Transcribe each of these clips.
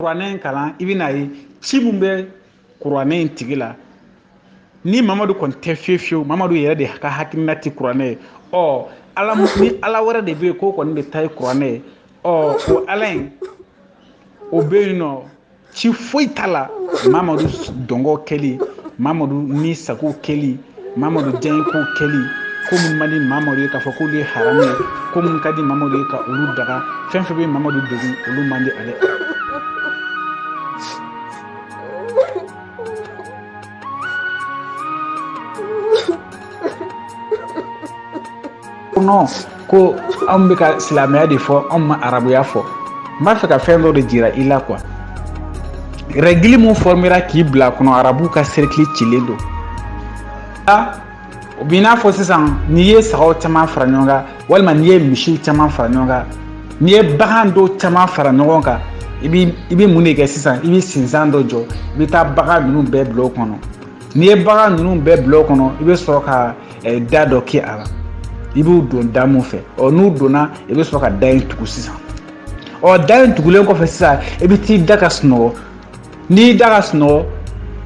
kuranɛ in kalan i bɛn'a ye ci min bɛ kuranɛ in tigi la ni mamadu kɔni tɛ fiyewu fiyewu mamadu yɛrɛ de ka hakilina tɛ kuranɛ ye ɔ ala ni ala wɛrɛ de bɛ yen k'o kɔni de ta ye kuranɛ ye ɔ o ala in o bɛ yen nɔ ci foyi t'a la mamadu dungo kɛli mamadu ni sago kɛli mamadu diyanyeko kɛli ko minnu man di mamadu ye k'a fɔ k'olu ye haramu ye ko minnu ka di mamadu ye ka olu daga fɛn fɛn bɛ mamadu degun olu man di ale kɔnɔ ko anw bɛ ka silamɛya de fɔ anw ma arabuya fɔ n b'a fɛ ka fɛn dɔ de jira i la quoi règle min fɔmera k'i bila kɔnɔ arabuw ka cercle cilen don a o b'i n'a fɔ sisan n'i ye sagaw caman fara ɲɔgɔn kan walima n'i ye misiw caman fara ɲɔgɔn kan n'i ye bagan dɔw caman fara ɲɔgɔn kan i bɛ i bɛ mun de kɛ sisan i bɛ sinsan dɔ jɔ i bɛ taa bagan ninnu bɛɛ bila o kɔnɔ n'i ye bagan ninnu bɛɛ bila o kɔnɔ i bɛ sɔrɔ ka ɛ da dɔ kɛ a la i b'u don da min fɛ ɔ n'u donna i bɛ sɔrɔ ka da in tugu sisan ɔ da in tugulen kɔfɛ sisan i bɛ t'i da ka sunɔgɔ n'i da ka sunɔgɔ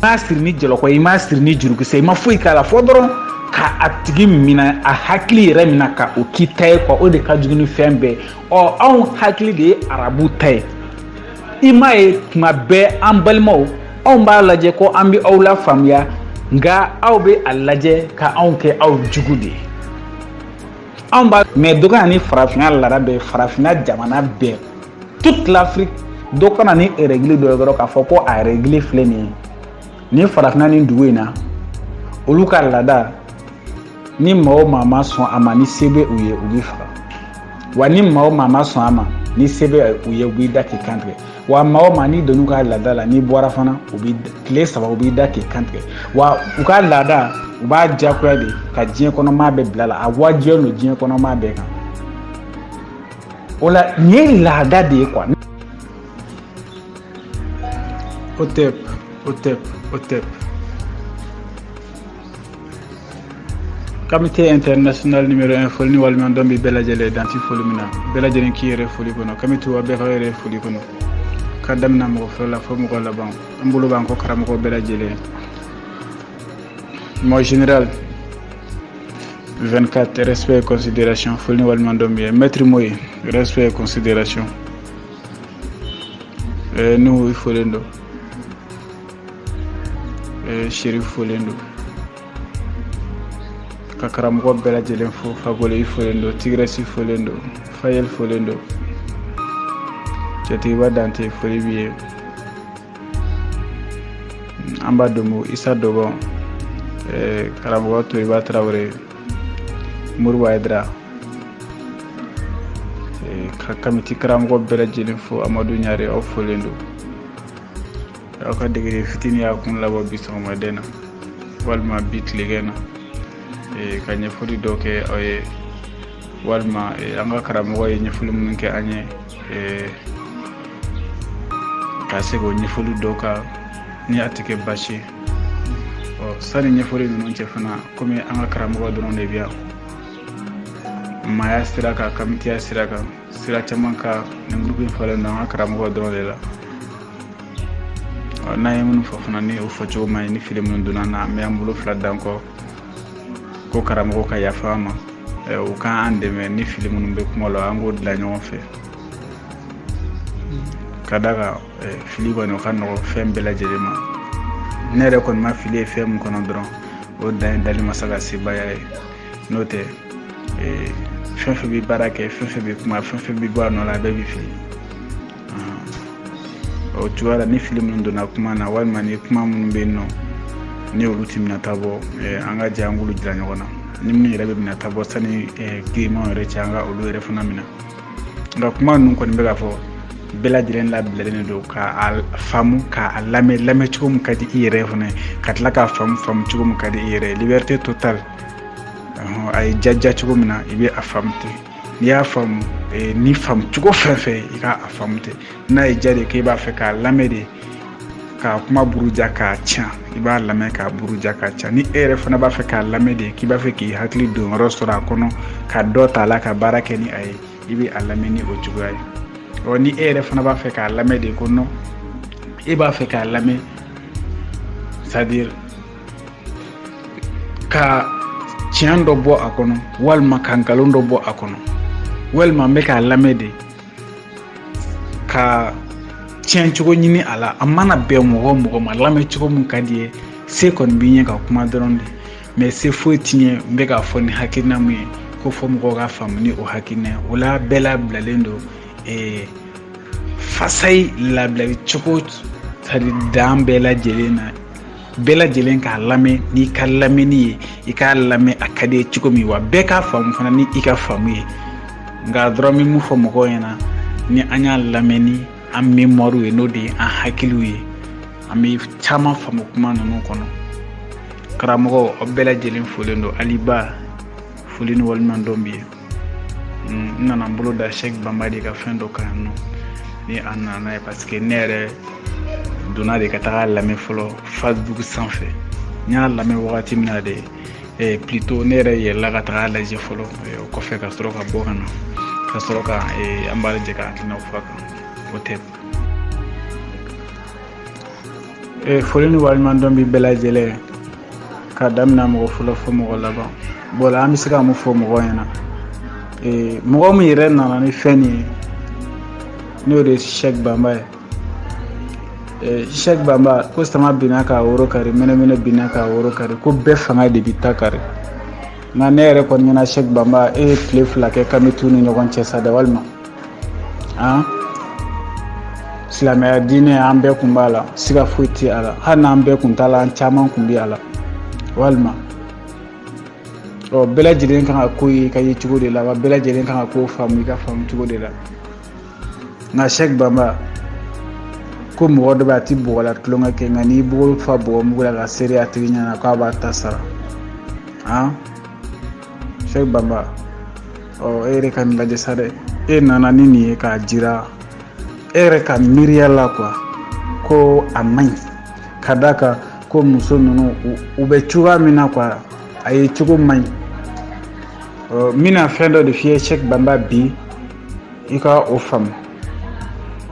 i m'a siri ni jɔlɔkɔ i m'a siri ni jurukisɛ i ma foyi k'a la fɔ dɔrɔn ka a tigi minɛ a hakili yɛrɛ minɛ ka o k'i ta ye quoi o de ka jugu ni fɛn bɛɛ ɔ anw hakili de ye arabu ta ye i m'a ye tuma bɛɛ an balimaw anw b'a lajɛ ko an bɛ aw la faamuya nka aw bɛ a lajɛ ka anw kɛ aw jugu de ye anw b'a mɛn dɔ ka na ni farafinna laada dɔ ye farafinna jamana bɛɛ toute l'afrique dɔ ka na ni règle dɔ ye dɔrɔn k'a fɔ ko a règle filɛ nin ye nin farafinna nin dugu in na olu ka laada ni maa o maa ma sɔn a ma ni se bɛ u ye u b'i faga wa ni maa o maa ma sɔn a ma ni se bɛ u ye u b'i da k'i kantigɛ wa maa o maa n'i donn'u ka laada la n'i bɔra fana u b'i tile saba u b'i da k'i kantigɛ wa u ka laada u b'a diyagoya de ka diɲɛ kɔnɔ maa bɛɛ bil'a la a wajibiya don diɲɛ kɔnɔ maa bɛɛ kan o la nin ye laada de ye quoi o tɛ o tɛ o tɛ Kamite international numéro 1 foli ni waleɲumandɔn bɛ bɛɛ lajɛlen ye dan tɛ foli min na bɛɛ lajɛlen k'i yɛrɛ foli kɔnɔ kamite wa bɛɛ ka yɛrɛ foli kɔnɔ ka daminɛ mɔgɔ fɔlɔ la fo mɔgɔ laban an bolo b'an kɔ karamɔgɔ bɛɛ lajɛlen ye mon général 24 respect et considération foli ni waleɲumandɔn b'i ye maître moyi respect et considération ɛɛ n'u folen don eh, seri folen don ka karamɔgɔ bɛɛ lajɛlen fo fakoli folen don tigirɛsi folen don fayɛl folen don cɛtigiba dante foli b'i ye anbadomo isa dɔgɔn eh, karamɔgɔ toriba tarawele moribo ayidara eh, ka kamiti karamɔgɔ bɛɛ lajɛlen fo amadu ɲare aw folen don aw ka degeden fitini y'a kun labɔ bi sɔgɔmada in na walima bi tilegɛ na e, ka ɲɛfɔli dɔ kɛ aw ye walima e, an ka karamɔgɔ ye ɲɛfɔli minnu kɛ an ye e, ka segin o ɲɛfɔli dɔ kan ni a tɛ kɛ baasi ye ɔ sani ɲɛfɔli ninnu cɛ fana komi an ka karamɔgɔ dɔrɔn de bɛ yan maaya sira kan kamitiya sira kan sira caman kan nin gurupu in falen don an ka karamɔgɔ dɔrɔn de la n'an ye minnu fɔ fana ni o fɔcogo man ɲi ni fili minnu donna na an bɛ an bolo fila d'an kɔ ko karamɔgɔ ka yafa an ma u ka an dɛmɛ ni fili minnu bɛ kuma la an k'o dilan ɲɔgɔn fɛ ka d'a kan fili kɔni o ka nɔgɔ fɛn bɛɛ lajɛlen ma ne yɛrɛ kɔni ma fili ye fɛn min kɔnɔ dɔrɔn o dan ye dali masa ka sebaaya ye n'o tɛ ee, fɛn fɛn bɛ baara kɛ fɛn fɛn bɛ kuma fɛn fɛn bɛ bɔ a nɔ la a bɛɛ bɛ fili o cogoya la ni fili minnu donna kuma na walima ni kuma minnu bɛ yen nɔ ni olu ti minɛ ta bɔ eh, an ka jɛ an k'olu jira ɲɔgɔn na ni minnu yɛrɛ bɛ minɛ ta bɔ sani eh, girinmanw yɛrɛ cɛ an ka olu yɛrɛ fana minɛ nka kuma ninnu kɔni bɛ k'a fɔ bɛɛ lajɛlen labilalen don ka a faamu ka a lamɛn lamɛn cogo min ka di i yɛrɛ fana ka tila k'a faamu faamu cogo min ka di i yɛrɛ ye liberté totale a ye jaja cogo min na i bɛ a faamu ten n'i y'a faamu eh, ni faamu cogo fɛn fɛn i ka a faamu ten n'a ye ja de k'e b'a fɛ k'a lamɛn de ka kuma buruja k'a ca i b'a lamɛn k'a buruja k'a ca ni e yɛrɛ fana b'a fɛ k'a lamɛn de k'i b'a fɛ k'i hakili don yɔrɔ sɔrɔ a kɔnɔ ka dɔ t'a la ka baara kɛ ni a ye i bɛ a lamɛn ni o cogoya ye ɔ ni e yɛrɛ fana b'a fɛ k'a lamɛn de ko nɔ e b'a fɛ k'a lamɛn c'est-à-dire ka tiɲɛ dɔ bɔ a kɔnɔ walima ka nkalon dɔ bɔ a kɔnɔ walima n bɛ k'a lamɛn de ka tiɲɛ cogo ɲini a la a mana bɛn mɔgɔ mɔgɔ ma lamɛn cogo min ka di i ye se kɔni bɛ n ye ka kuma dɔrɔn de mɛ se foyi tɛ n ye n bɛ k'a fɔ ni hakilina min ye ko fo mɔgɔw k'a faamu ni o hakilina ye o la bɛɛ labilalen don ee fasayi labilali cogo tari dan bɛɛ lajɛlen na bɛɛ lajɛlen k'a lamɛn n'i ka lamɛnni ye i k'a lamɛn a ka di i ye cogo min wa bɛɛ k'a faamu fana ni i ka faamu ye nka an dɔrɔn bɛ mun fɔ mɔgɔw ɲɛna ni an y'a lamɛn ni an memɔriw ye n'o de ye an hakiliw ye an bɛ caman faamu kuma ninnu kɔnɔ karamɔgɔ aw bɛɛ lajɛlen folen don aliba foli ni waleɲumandɔn b'i ye n nana n bolo da sɛki banba de ka fɛn dɔ kan yan nɔ ni a nana n'a ye parce que ne yɛrɛ donna de ka taga a lamɛn fɔlɔ facebook sanfɛ n y'a lamɛn wagati min na de eh, plutôt ne yɛrɛ yɛlɛla ka taga a lajɛ fɔlɔ eh, o kɔfɛ ka sɔrɔ ka bɔ ka na ka sɔrɔ ka eh, an b'a lajɛ ka hakilinaw fɔ a kan o tɛ e foli ni waleɲumandɔn bi bɛɛ lajɛlen ka damina mɔgɔ fɔlɔ la fo mɔgɔ laban bɔla an bɛ se ka mun fɔ mɔgɔ ɲɛna ee, mɔgɔ min yɛrɛ nana ni fɛn nin ye n'o de ye sɛki banba ye ee, sɛki banba ko sama binna k'a woro kari mɛnɛmɛnɛ binna k'a woro kari ko bɛɛ fanga de b'i ta kari nka ne yɛrɛ kɔni ɲɛna sɛki banba e ye tile fila kɛ kamitu ni ɲɔgɔn cɛ sa dɛ walima an silamɛya diinɛ an bɛɛ kun b'a la siga foyi tɛ a la hali n'an bɛɛ kun t'a la an caman kun bɛ a la walima ɔ bɛɛ lajɛlen kan ka ko ye i ka ye cogo de la wa bɛɛ lajɛlen kan ka ko faamu i ka faamu cogo de la nka sɛki banba ko mɔgɔ dɔ bɛ a ti bɔgɔ la tulonkɛ kɛ nka n'i bolo fa bɔgɔ mugu la k'a seri a tigi ɲɛna k'a b'a ta sara an sɛki banba ɔ e yɛrɛ ka nin lajɛ sa dɛ e nana ni nin ye k'a jira e yɛrɛ ka miiriya la quoi ko a man ɲi ka d'a kan ko muso ninnu u bɛ cogoya min na quoi a ye cogo man ɲi n bɛna fɛn dɔ de f'i ye sɛki banba bi i ka o faamu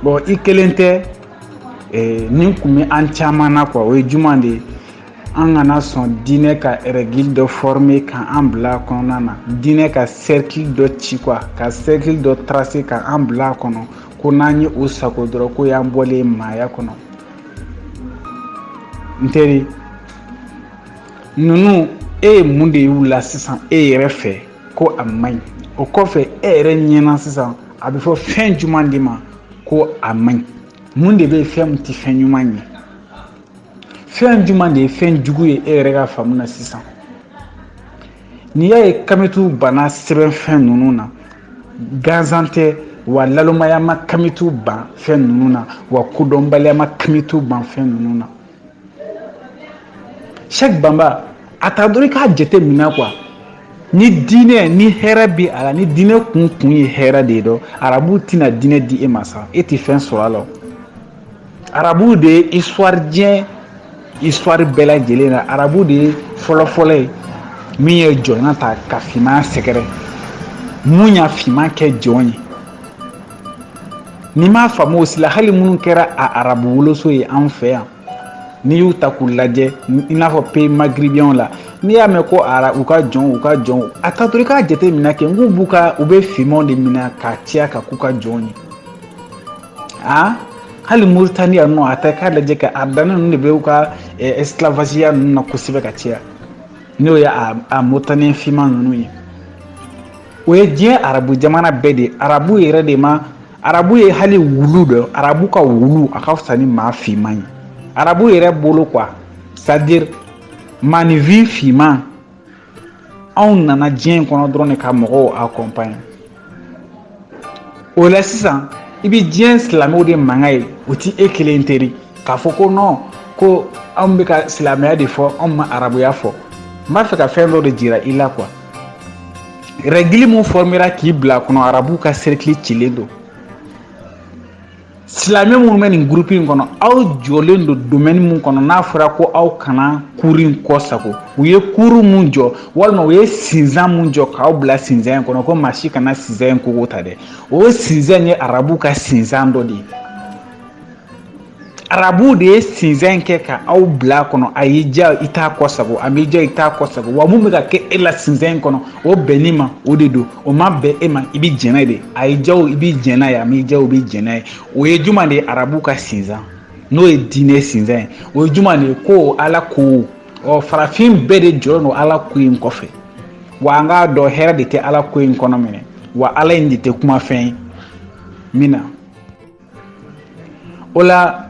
bon i kelen tɛ nin kun bɛ an caman na quoi o ye jumɛn de ye an kana sɔn diinɛ ka règle dɔ former ka an bila a kɔnɔna na diinɛ ka cercle dɔ ci quoi ka cercle dɔ tracer ka an bila a kɔnɔ ko n'an ye o sagon dɔrɔn k'o y'an bɔlen ye maaya kɔnɔ n teri ninnu e ye mun de y'u la sisan e yɛrɛ fɛ ko a man ɲi o kɔfɛ e yɛrɛ ɲɛna sisan a bɛ fɔ fɛn jumɛn de ma ko a man ɲi mun de bɛ fɛn min tɛ fɛn ɲuman ye fɛn jumɛn de ye fɛn jugu ye e yɛrɛ ka faamu na sisan n'i y'a ye kamitu banna sɛbɛn fɛn ninnu na gansan tɛ wa nalomaya ma kamitu ban fɛn ninnu na wa kodɔnbaliya ma kamitu ban fɛn ninnu na sɛki banba a ta dɔrɔn i k'a jate minɛ quoi ni diinɛ ni hɛrɛ bɛ a la ni diinɛ kun kun ye hɛrɛ de ye donc arabu tɛna diinɛ di e ma sa e tɛ fɛn sɔrɔ a la Arabu de ye histoire diɲɛ histoire bɛɛ lajɛlen na arabu de ye fɔlɔfɔlɔ ye min ye jɔnya ta ka finman sɛgɛrɛ min ye finman kɛ jɔn ye n'i m'a faamu o si la hali minnu kɛra a arabu woloso ye an fɛ yan n'i y'u ta k'u lajɛ i n'a fɔ pays maghrébins la n'i y'a mɛn ko ara u ka jɔnw u ka jɔnw a ta to i k'a jateminɛ kɛ n k'u b'u ka u bɛ finmanw de minɛ ka caya ka k'u ka jɔnw ye aa hali moritaniya nɔ a ta k'a lajɛ kɛ a danna ninnu de bɛ u ka esclavasiya ninnu na kosɛbɛ ka caya n'o ye a moritaniya finman ninnu ye o ye diɲɛ arabu jamana bɛɛ de ye arabu yɛrɛ de ma arabu ye hali wulu dɔ arabu ka wulu a ka fisa ni maa finman ye arabu yɛrɛ bolo quoi c'est-à-dire maaninfin finman anw nana diɲɛ in kɔnɔ dɔrɔn de ka mɔgɔw accompagner o la sisan i bɛ diɲɛ silamɛw de mankan ye o tɛ e kelen teri k'a fɔ ko non ko anw bɛ ka silamɛya de fɔ anw ma arabuya fɔ n b'a fɛ ka fɛn dɔ de jira i la quoi rɛgili min fɔmera k'i bila a kɔnɔ arabuw ka serikili cilen don silamɛ minnu bɛ nin gurupu in kɔnɔ aw jɔlen don domaine min kɔnɔ n'a fɔra ko aw kana kuru in kɔsagon u ye kuru min jɔ walima u ye sinzan min jɔ k'aw bila sinzan in kɔnɔ ko maa si kana sinzan in koko ta dɛ o sinzan ye arabu ka sinzan dɔ de ye arabuw de ye sinzan in kɛ ka aw bila a kɔnɔ a y'i diya i t'a kɔsagon a m'i diya i t'a kɔsagon wa mun bɛ ka kɛ e la sinzan in kɔnɔ o bɛnn'i ma o de don o ma bɛn e ma i bɛ jɛn n'a ye de a y'i diya o i bɛ jɛn n'a ye a m'i diya o i bɛ jɛn n'a ye o ye jumɛn de ye arabu ka sinsan n'o ye diinɛ sinsan ye o ye jumɛn de ye ko ala ko ɔ farafin bɛɛ de jɔlen don ala ko in kɔfɛ wa an k'a dɔn hɛrɛ de tɛ ala ko in kɔnɔ minɛ wa ala in de tɛ kuma fɛn ye min na o la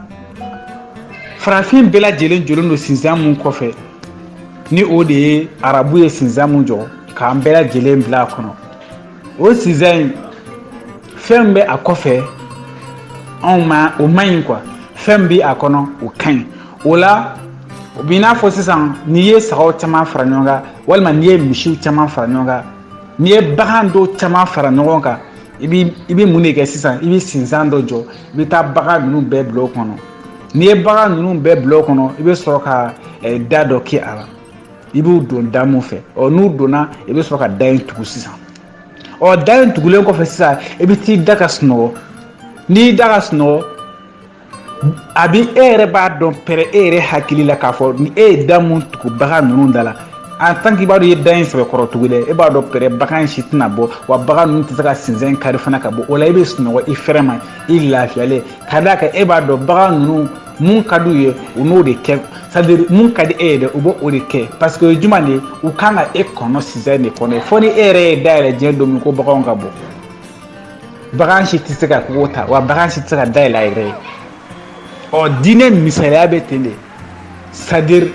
farafin bɛɛ lajɛlen jɔlen don sinsan min kɔfɛ ni o de ye arabu ye sinsan min jɔ k'an bɛɛ lajɛlen bila a kɔnɔ o sinsan in fɛn bɛ a kɔfɛ anw ma o man ɲi quoi fɛn bɛ a kɔnɔ o ka ɲi o la o b'i n'a fɔ sisan n'i ye sagaw caman fara ɲɔgɔn kan walima n'i ye misiw caman fara ɲɔgɔn kan n'i ye bagan dɔw caman fara ɲɔgɔn kan i bɛ i bɛ mun de kɛ sisan i bɛ sinsan dɔ jɔ i bɛ taa bagan ninnu bɛɛ bila o kɔnɔ n'i ye bagan ninnu bɛɛ bila o kɔnɔ i bɛ sɔrɔ ka eh, da dɔ kɛ a la i b'u don da min fɛ ɔ n'u donna i bɛ sɔrɔ ka da in tugu sisan ɔ da in tugulen kɔfɛ sisan i bɛ t'i da ka sunɔgɔ n'i y'i da ka sunɔgɔ a bi e yɛrɛ b'a dɔn pɛrɛ e yɛrɛ hakili la k'a fɔ ni e ye da mun tugu bagan ninnu da la en tant que i b'a dɔn i ye da in sɛbɛkɔrɔ tugu dɛ e b'a dɔn pɛrɛ bagan in si tɛna bɔ wa bagan ninnu tɛ se ka sinzɛn kari fana ka bɔ o la i bɛ sunɔgɔ i fɛrɛ ma i lafiyalen ka d'a kan e b'a dɔn bagan ninnu mun ka d'u ye u t'o de kɛ c'est à dire mun ka di e ye dɛ u b'o o de kɛ parce que o ye jumɛn de ye u kan ka e kɔnɔ sinzɛn de kɔnɔ fo ni e yɛrɛ ye da yɛlɛ diɲɛ don min ko baganw ka bɔ bagan si tɛ se ka kogo ta wa bagan si tɛ se ka da yɛlɛ a yɛrɛ ye ɔ diinɛ misaliya bɛ ten de c'est à dire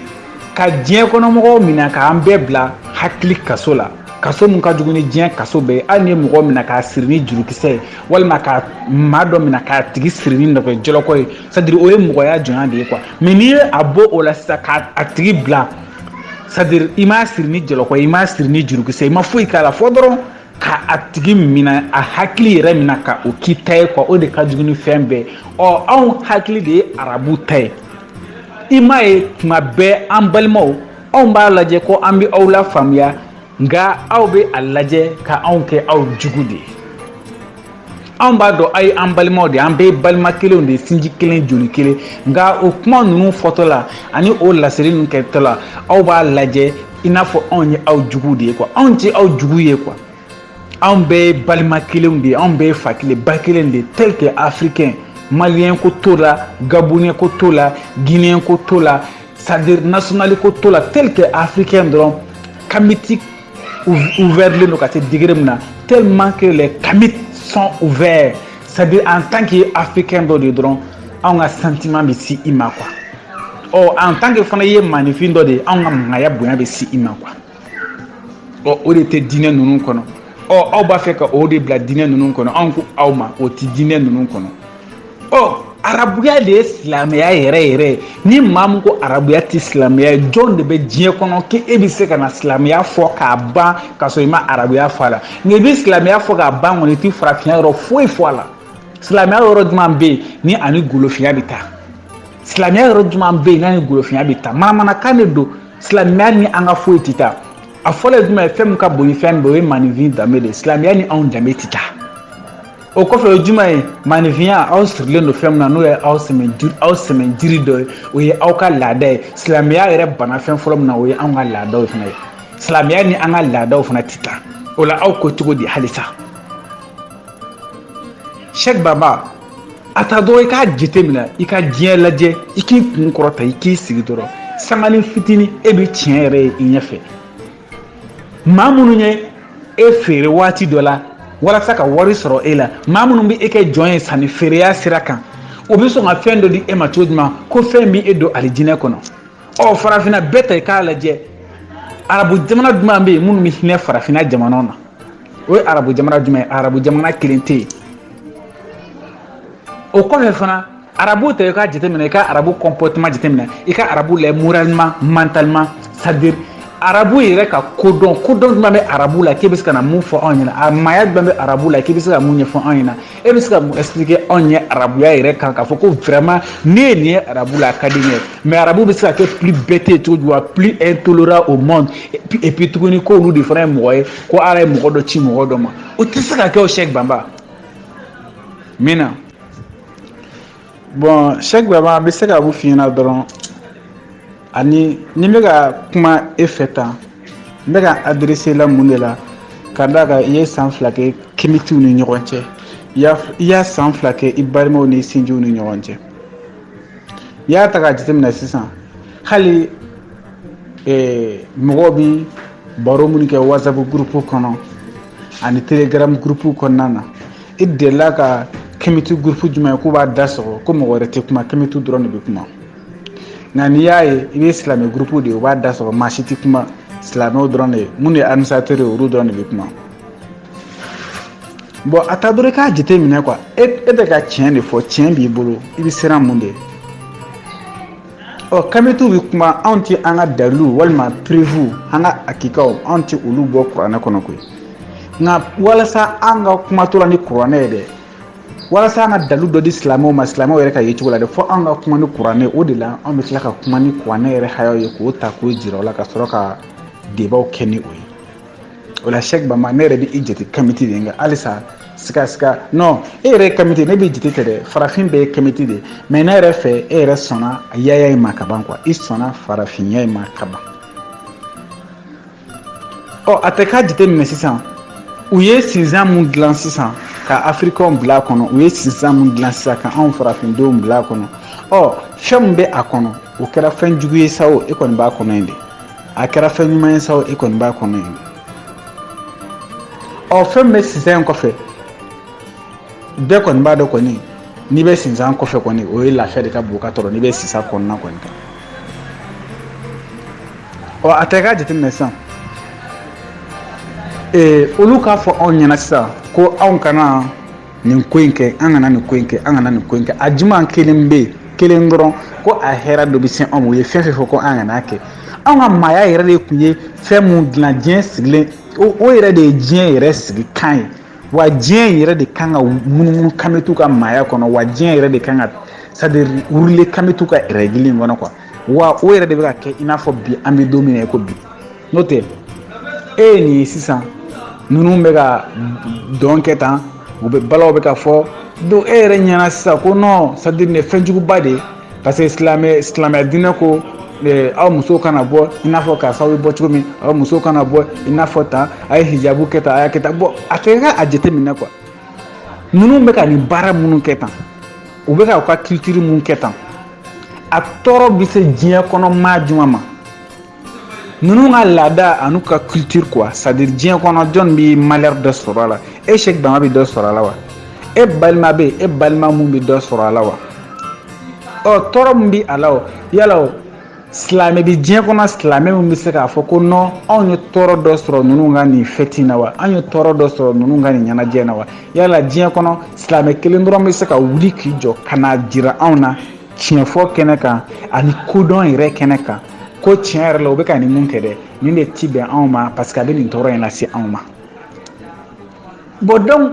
ka diɲɛ kɔnɔmɔgɔw minɛ k'an bɛɛ bila hakili kaso la kaso min ka jugu ni diɲɛ kaso bɛɛ ye hali n'i ye mɔgɔ minɛ k'a siri ni jurukisɛ ye walima ka maa dɔ minɛ k'a tigi siri ni nɛgɛjɔlɔkɔ ye c'est à dire o ye mɔgɔya jɔnya de ye quoi mais n'i ye a bɔ o la sisan k'a a tigi bila c'est à dire i m'a siri ni jɔlɔkɔ ye i m'a siri ni jurukisɛ ye i ma foyi k'a la fo dɔrɔn ka a tigi mina a hakili yɛrɛ mina ka o k'i ta ye quoi o de ka jugu ni fɛn bɛɛ ɔ anw hakili de ye arabu ta ye i m'a ye tuma bɛɛ an balimaw anw b'a lajɛ ko an bɛ aw lafaamuya nka aw bɛ a lajɛ ka anw kɛ aw jugu de ye anw b'a dɔn aw ye an balimaw de an bɛɛ balima kelenw de sinji kelen joli kelen nka o kuma ninnu fɔtɔ la ani o laseli ninnu kɛtɔ la aw b'a lajɛ i n'a fɔ anw ye aw jugu de ye quoi anw tɛ aw jugu ye quoi anw bɛɛ ye balima kelenw de ye anw bɛɛ ye fa kelen ba kelen de ye tel que africain maliyɛn ko t'o la gaboniyɛn ko t'o la gineyɛn ko t'o la c'est à dire nationali ko t'o la tel que africain dɔrɔn kamiti ouvertlen don ka se degré min na tellement que les kamit sont ouverts c'est à dire en tant que i ye africain dɔ de ye dɔrɔn anw ka sentiment bɛ se i ma quoi ɔ en tant que fana i ye maninfin dɔ de ye anw ka maaya bonya bɛ se i ma quoi ɔ o de tɛ diinɛ ninnu kɔnɔ ɔ aw b'a fɛ ka o de bila diinɛ ninnu kɔnɔ anw ko aw ma o tɛ diinɛ ninnu kɔnɔ ɔ arabuya de ye silamɛya yɛrɛ yɛrɛ ye ni maa min ko arabuya tɛ silamɛya ye jɔn de bɛ diɲɛ kɔnɔ k'e e bɛ se ka na silamɛya fɔ k'a ban ka sɔrɔ i ma arabuya fɔ a la nka i bɛ silamɛya fɔ k'a ban kɔni i tɛ farafinya yɔrɔ foyi fɔ a la silamɛya yɔrɔ jumɛn bɛ yen n'a ni golofinya bɛ taa silamɛya yɔrɔ jumɛn bɛ yen n'a ni golofinya bɛ taa manamanakan de don silamɛya ni an ka foyi tɛ taa a fɔlɔ ye jumɛn ye fɛn min ka bon ni fɛn bɛɛ o ye maninfin danbe de ye silamɛya ni anw danbe tɛ taa o kɔfɛ o ye jumɛn ye maninfinya aw sirilen don fɛn min na n'o ye aw sɛmɛ aw sɛmɛjiri dɔ ye o ye aw ka laada ye silamɛya yɛrɛ bana fɛn fɔlɔ min na o ye anw ka laadaw fana ye silamɛya ni an ka laadaw fana tɛ taa o la aw ko cogo di halisa sɛk baba a ta dɔrɔn i k'a jateminɛ i ka diɲɛ lajɛ i k'i kun kɔrɔta i k'i sigi dɔrɔn sanganin fitinin e bɛ tiɲɛ yɛrɛ ye i ɲɛfɛ maa minnu ye e feere waati dɔ la walasa ka wari sɔrɔ e la maa minnu bɛ e kɛ jɔn ye sanni feereya sira kan o bɛ sɔn ka fɛn dɔ di e ma cogo jumɛn ko fɛn bɛ e don alijinɛ kɔnɔ ɔ farafinna bɛɛ ta i k'a lajɛ arabu jamana jumɛn bɛ yen minnu bɛ hinɛ farafinna jamanaw na o ye arabu jamana jumɛn ye arabu jamana kelen tɛ yen o kɔfɛ fana arabu ta i k'a jateminɛ i ka arabu comportement jateminɛ i ka arabu la moralement mentalement c'est-à-dire arabu yɛrɛ ka kodɔn kodɔn jumɛn bɛ arabu la k'e bɛ se ka na mun fɔ anw ɲɛna a maaya jumɛn bɛ arabu la k'i bɛ se ka mun ɲɛfɔ anw ɲɛna e bɛ se ka mun expliquer anw ɲɛ arabuya yɛrɛ kan k'a fɔ ko vraiment ne ye nin ye arabu la a ka di n ye mais arabu bɛ se ka kɛ plus bête ye cogo jumɛn plus intolérant au monde et puis tuguni k'olu de fana ye mɔgɔ ye ko ala ye mɔgɔ dɔ ci mɔgɔ dɔ ma o tɛ se ka kɛ o sɛk banba min na bɔn sɛk banba bɛ se ka mun f'i ɲɛna dɔrɔn ani ni bɛ ka kuma e fɛ tan n bɛ ka adresser i la mun de la ka d'a kan i ye san fila kɛ kemitiw ni ɲɔgɔn cɛ i ye san fila kɛ i balimaw ni i sinjiw ni ɲɔgɔn cɛ n'i y'a ta k'a jateminɛ sisan hali eh, mɔgɔw bi baro minnu kɛ whatsapp groupe kɔnɔ ani telegram groupe kɔnɔna na i delila ka kemiti groupe jumɛn ye k'u b'a da sɔgɔ ko mɔgɔ wɛrɛ tɛ kuma kemitiw dɔrɔn de bɛ kuma nka n'i y'a ye i bɛ silamɛ groupe de ye u b'a da sɔgɔ maa si tɛ kuma silamɛw dɔrɔn de ye minnu ye administrateur ye olu dɔrɔn de bɛ kuma bɔn a ta dɔrɔn k'a jate minɛ quoi e bɛ ka tiɲɛ de fɔ tiɲɛ b'i bolo i bɛ siran mun de ɲɛ ɔ kamitiw bɛ kuma anw tɛ an ka dalilu walima preuve an ka hakikaw anw tɛ olu bɔ kuranɛ kɔnɔ koyi nka walasa an ka kuma tora ni kuranɛ ye dɛ walasa an ka dalu dɔ di silamɛw ma silamɛw yɛrɛ ka yecogo la dɛ fo an ka kuma ni kuranɛ o de la an bɛ tila ka kuma ni kuranɛ yɛrɛ hayaw ye k'o ta k'o jira u la ka sɔrɔ ka debaw kɛ ni o ye o la sɛk banba ne yɛrɛ bɛ i jate kamiti de nka halisa siga siga non e yɛrɛ ye kamiti ne bɛ jate ten de farafin bɛɛ ye kamiti de mais ne yɛrɛ fɛ e yɛrɛ sɔnna yaya in ma ka ban quoi i sɔnna farafinya in ma ka ban ɔ a ta i k'a jate minɛ sisan u ye sinsan mun dilan sisan ka afirikɛnw bila a kɔnɔ u ye sinsan mun dilan sisan ka anw farafindenw bila a kɔnɔ ɔ fɛn min bɛ a kɔnɔ o kɛra fɛn jugu ye sa o e kɔni b'a kɔnɔ yen de a kɛra fɛn ɲuman ye sa e kɔni b'a kɔnɔ yen ɔ fɛn min bɛ sinsan in kɔfɛ bɛɛ kɔni b'a dɔn kɔni n'i bɛ sinsan kɔfɛ kɔni o ye lafiya de ka bon ka tɔrɔ n'i bɛ sinsan kɔnɔna kɔni kan ɔ a ta i k'a jateminɛ sisan ee olu k'a fɔ anw ɲɛna sisan ko anw kana nin ko in kɛ an kana nin ko in kɛ an kana nin ko in kɛ a jumɛn kelen bɛ yen kelen dɔrɔn ko a hɛrɛ dɔ bɛ se anw ma o ye fɛn fɛn fɔ ko an kana a kɛ anw ka maaya yɛrɛ de tun ye fɛn mun dilan diɲɛ sigilen o yɛrɛ de ye diɲɛ yɛrɛ sigi kan ye wa diɲɛ yɛrɛ de kan ka munumunu kamitw ka maaya kɔnɔ wa diɲɛ yɛrɛ de kan ka c'est à dire rouler kamitw ka règle in kɔnɔ quoi wa o yɛrɛ de bɛ ka kɛ i n'a fɔ bi an bɛ don min na i ko bi n'o tɛ e ye nin ye sisan ninnu bɛ ka dɔn kɛ tan u bɛ balaw bɛ ka fɔ donc e yɛrɛ ɲɛna sisan ko nɔn c'est à dire nin fɛnjuguba de ye parce que silamɛ silamɛya diinɛ ko aw musow kana bɔ i n'a fɔ karisaw bɛ bɔ cogo min aw musow kana bɔ i n'a fɔ tan a ye hijabu kɛ tan a y'a kɛ tan bɔn a ta k'a jateminɛ quoi ninnu bɛ ka nin baara minnu kɛ tan u bɛ ka u ka culture mun kɛ tan a tɔɔrɔ bɛ se diɲɛ kɔnɔ maa jumɛn ma ninnu ka laada an'u ka culture quoi c'est à dire diɲɛ kɔnɔ jɔn bɛ malheur dɔ sɔrɔ a la e Sɛki Banba bɛ dɔ sɔrɔ a la wa e balima bɛ yen e balima mun bɛ dɔ sɔrɔ a la wa ɔ tɔɔrɔ min bɛ a la o yala o silamɛ bi diɲɛ kɔnɔ silamɛ min bɛ se k'a fɔ ko nɔn anw ye tɔɔrɔ dɔ sɔrɔ ninnu ka nin fɛti na wa anw ye tɔɔrɔ dɔ sɔrɔ ninnu ka nin ɲɛnajɛ na wa yala diɲɛ kɔnɔ silamɛ kelen dɔrɔn bɛ se ka wuli k'i jɔ ka n'a jira anw na tiɲɛfɔ kɛnɛ kan ani kodɔn yɛrɛ kɛnɛ kan ko tiɲɛ yɛrɛ la u bɛ ka nin mun kɛ dɛ nin de ti bɛn anw ma parce que a bɛ nin tɔɔrɔ in lase anw ma bɔn donc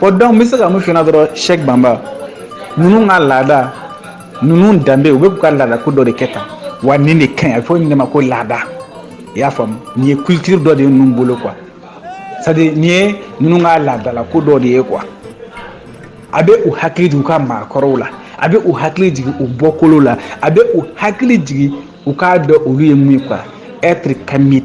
bɔn donc n bɛ se ka mun f'i ɲɛna dɔrɔn Sɛki Banba ninnu ka laada ninnu danbe u bɛ k'u ka laada ko dɔ de kɛ tan wa nin de ka ɲi a bɛ fɔ nin de ma ko laada i y'a faamu nin ye culture dɔ de ye ninnu bolo quoi c'est à dire nin ye ninnu ka laadala ko dɔ de ye quoi a bɛ u hakili jigin u ka maakɔrɔw la a bɛ u hakili jigin u bɔkolo la a bɛ u hakili jigin u k'a dɔn olu ye mun ye quoi être kamit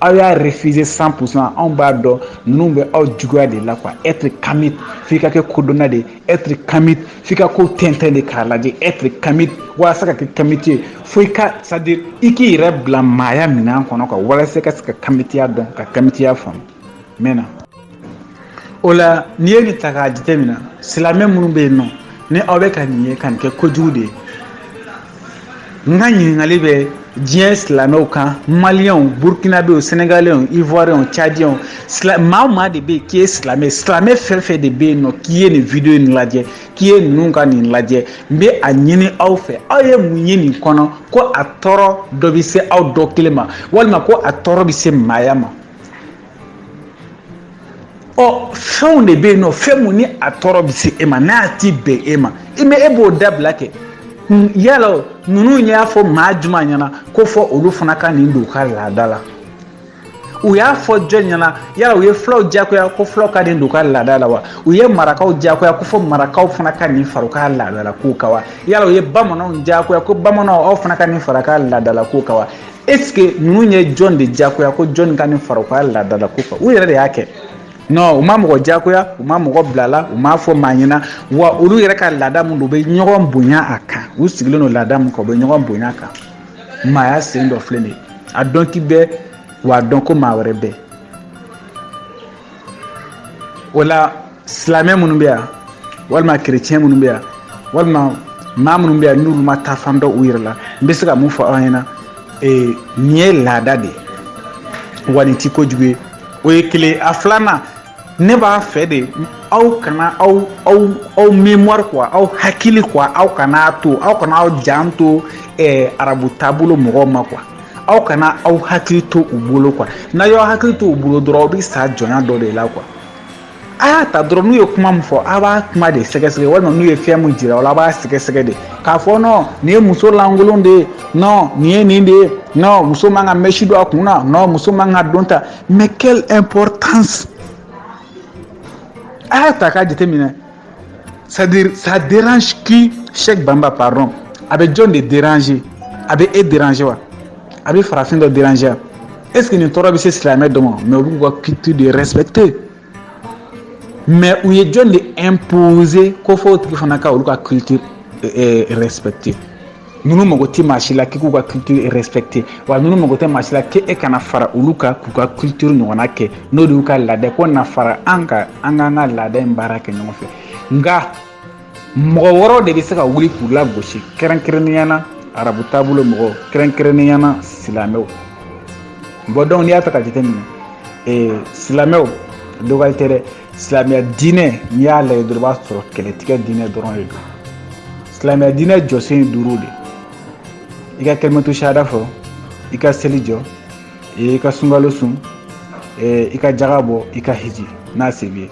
Aw y'a refuser cent pour cent anw b'a dɔn ninnu bɛ aw juguya de la quoi être kamite f'i ka kɛ kodɔnna de être kamite f'i ka ko tɛntɛn de k'a lajɛ être kamite walasa ka kɛ kamite ye fo i ka c'est à dire i k'i yɛrɛ bila maaya minɛn kɔnɔ ka walasa i ka se ka kamitiya dɔn ka kamitiya faamu mun na o la n'i ye nin ta k'a jateminɛ silamɛ minnu bɛ yen nɔ ni aw bɛ ka nin ye ka nin kɛ kojugu de ye n ka ɲininkali bɛ diɲɛ silamɛw kan maliyɛnw burukinabew senegalɛnw ivoiriyɛnw cadiyɛnw maa o maa de bɛ yen k'i ye silamɛ silamɛ fɛn fɛn de bɛ yen nɔ k'i ye nin video in lajɛ k'i ye ninnu ka nin lajɛ n bɛ a ɲini aw fɛ aw ye mun ye nin kɔnɔ ko a tɔɔrɔ dɔ bɛ se aw dɔ kelen ma walima ko a tɔɔrɔ bɛ se maaya ma ɔ fɛnw de bɛ yen nɔ fɛn mun ni a tɔɔrɔ bɛ se e ma n'a ti bɛn e ma i mɛ e b'o dabila kɛ yala ninnu y'a fɔ maa juma ɲɛna ko fɔ olu fana ka nin don u ka laada la u y'a fɔ jɔn ɲɛna yala u ye fulaw diyagoya ko fulaw ka nin don u ka laada la wa u ye marakaw diyagoya ko fɔ marakaw fana ka nin fara u ka laadala kow kan wa yala u ye bamananw diyagoya ko bamananw aw fana ka nin fara ka laadala kow kan wa Est ce que ninnu ye jɔn de diyagoya ko jɔn ka nin fara u ka laadala ko kan u yɛrɛ de y'a kɛ nɔ u ma mɔgɔ diyagoya u ma mɔgɔ bil'a la u m'a fɔ maa ɲɛna wa olu yɛrɛ ka laada min don u bɛ ɲɔgɔn bonya a kan u sigilen don laada min kan u bɛ ɲɔgɔn bonya kan maaya sen dɔ filɛ de a dɔn k'i bɛ wa a dɔn ko maa wɛrɛ bɛ o la silamɛ minnu bɛ yan walima kerecɛn minnu bɛ yan walima maa minnu bɛ yan n'olu ma taafan dɔn u yɛrɛ la n bɛ se ka mun fɔ aw ɲɛna ee nin ye laada de ye wa nin ti kojugu ye o ye kelen a filanan ne b'a fɛ de aw kana aw aw aw mémoire quoi aw hakili quoi aw kana a to aw kana aw jan to eh, arabu taabolo mɔgɔw ma quoi aw kana aw hakili to u bolo quoi n'a y'aw hakili to u bolo dɔrɔn aw bɛ sa jɔnya dɔ de la quoi a y'a ta dɔrɔn n'u ye kuma min fɔ a b'a kuma de sɛgɛsɛgɛ walima n'u ye fɛn min jira aw la a b'a sɛgɛsɛgɛ de k'a fɔ nɔ nin ye muso lankolon de ye nɔ nin ye nin de ye nɔ muso man ka mɛsi don a kun na nɔ muso man ka don ta mais quelle importance a y'a ta k'a jateminɛ c'est à dire ça dérange qui Cheikh Bamba pardon a bɛ jɔn de déranger a bɛ e déranger wa a bɛ farafin dɔ déranger wa est ce que nin tɔɔrɔ bɛ se silamɛ dɔ ma mais u b'u ka culture de respecter mais u ye jɔn de imposer ko fɔ o tigi fana ka olu ka culture respecter. ninnu mago tɛ maa si la k'i k'u ka culture respecter wa ninnu mago tɛ maa si la k'e ka na fara olu kan k'u ka culture ɲɔgɔnna kɛ n'o de y'u ka laada ko na fara an kan an k'an ka laada in baara kɛ ɲɔgɔn fɛ nka mɔgɔ wɛrɛw de bɛ se ka wuli k'u lagosi kɛrɛnkɛrɛnnenya na arabu taabolo mɔgɔw kɛrɛnkɛrɛnnenya na silamɛw bon donc n'i y'a ta ka jateminɛ ee silamɛw dɔgɔyali tɛ dɛ silamɛya diinɛ n'i y'a lajɛ dɔrɔn i b'a sɔrɔ kɛlɛtigɛ diinɛ dɔrɔn de don silamɛya diinɛ jɔsen ye duuru de i ka kalimatu sahada fɔ i ka seli jɔ i ka sunkalo sun i ka jaga bɔ i ka hiji n'a se b'i ye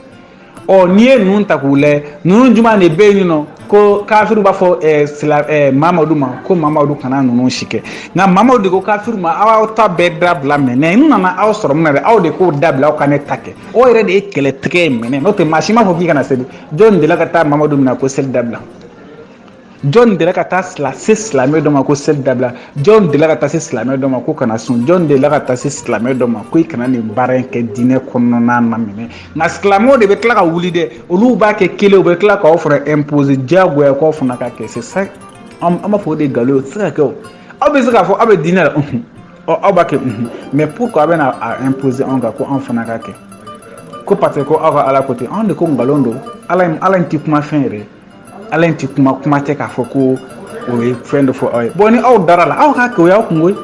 ɔ n'i ye ninnu ta k'u lajɛ ninnu jumɛn de bɛ yen nɔ ko kafiriw b'a fɔ eh, sila eh, mamadu ma ko mamadu kana ninnu si kɛ nka mamadu de ko kafiriw ma aw ta bɛɛ dabila mɛ nka n nana aw sɔrɔ min na dɛ aw de k'o dabila aw ka ne ta kɛ o yɛrɛ de ye kɛlɛtigɛ ye minɛ n'o tɛ maa si m'a fɔ k'i kana seli jɔn delila ka taa mamadu minɛ ko seli dabila jɔn delila ka taa sila se silamɛ dɔ ma ko seli dabila jɔn delila ka taa se silamɛ dɔ ma ko kana sun jɔn delila ka taa se silamɛ dɔ ma ko i kana nin baara in kɛ diinɛ kɔnɔna na mais nka silamɛw de bɛ tila ka wuli dɛ olu b'a kɛ kelen u bɛ tila k'anw fana imposer diyagoya k'anw fana k'a kɛ c'est ça an b'a fɔ o de ye nkalon ye o tɛ se ka kɛ o aw bɛ se k'a fɔ aw bɛ diinɛ la ɔ aw b'a kɛ unhun mais pourquoi aw bɛna a imposer anw kan ko anw fana k'a kɛ ko parce que ko aw ka ala ko ten anw de ko nkalon don ala in ala in tɛ kuma fɛn yɛrɛ ala in tɛ kuma kuma tɛ k'a fɔ ko o ye fɛn dɔ fɔ aw ye bɔn ni aw dara a la aw k'a kɛ o y'aw kunko ye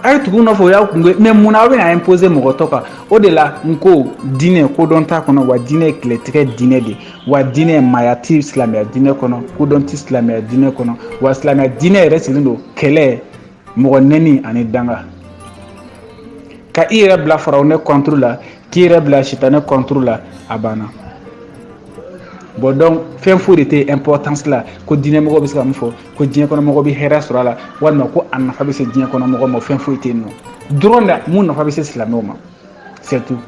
a ye tugu nɔfɛ o y'aw kunko ye mais mun na aw bɛna imposer mɔgɔ tɔw kan o de la n ko diinɛ kodɔn t'a kɔnɔ wa diinɛ ye kɛlɛtigɛ diinɛ de wa diinɛ maaya ti silamɛya diinɛ kɔnɔ kodɔn ti silamɛya diinɛ kɔnɔ wa silamɛya diinɛ yɛrɛ sigilen don kɛlɛ mɔgɔ nɛni ani danga ka i yɛrɛ bila farawuna contre la k'i yɛrɛ bila sitanɛ contre la a banna bon donc fɛn foyi de tɛ importance la ko diinɛmɔgɔw bɛ se ka min fɔ ko diɲɛ kɔnɔ mɔgɔ bɛ hɛrɛ sɔrɔ a la walima ko a nafa bɛ se diɲɛ kɔnɔ mɔgɔ ma fɛn foyi tɛ yen nɔ dɔrɔn da mun nafa bɛ se silamɛw ma c'est tout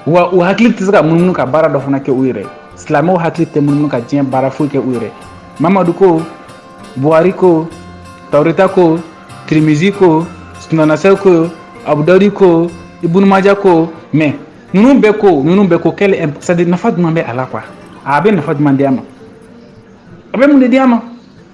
wa u hakili tɛ se ka munumunu ka baara dɔ fana kɛ u yɛrɛ silamɛw hakili tɛ munumunu ka diɲɛ baara foyi kɛ u yɛrɛ mamadu ko buhari ko tawureta ko tirimizi ko sunanasɛ ko abudawudi ko ibunumaja ko mais ninnu bɛɛ ko ninnu bɛɛ ko quelle impor c'est-à-dire nafa jumɛn bɛ a la quoi a bɛ nafa jumɛn di a ma a bɛ mun de di a ma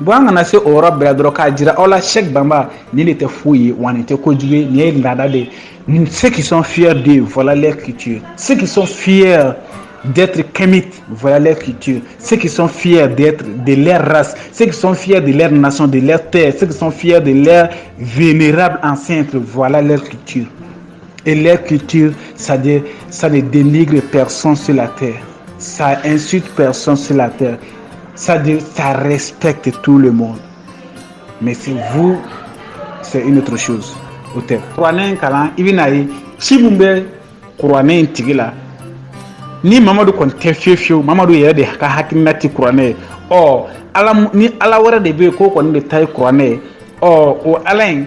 bɔn an kana se o yɔrɔ bɛɛ dɔrɔn k'a jira aw la c'est que banba nin de tɛ foyi ye wa nin tɛ kojugu ye nin ye laada de ye ceux qui sont fiers d'eux voilà leur culture ceux qui sont fiers d'être Kamite, voilà leur culture. Ceux qui sont fiers d'être de leur race, ceux qui sont fiers de leur nation, de leur terre, ceux qui sont fiers de leur vénérable ancêtre, voilà leur culture. Et leur culture, c'est-à-dire, ça ne dénigre personne sur la terre. Ça insulte personne sur la terre. C'est-à-dire, ça respecte tout le monde. Mais chez vous, c'est une autre chose. O tuma kuranɛ in kalan, i bɛna ye ci min bɛ kuranɛ in tigi la ni mamadu kɔni tɛ fiyewu fiyewu mamadu yɛrɛ de ka hakilina ti kuranɛ ye ɔ ala ni ala wɛrɛ de bɛ yen k'o kɔni de ta ye kuranɛ ye ɔ o ala in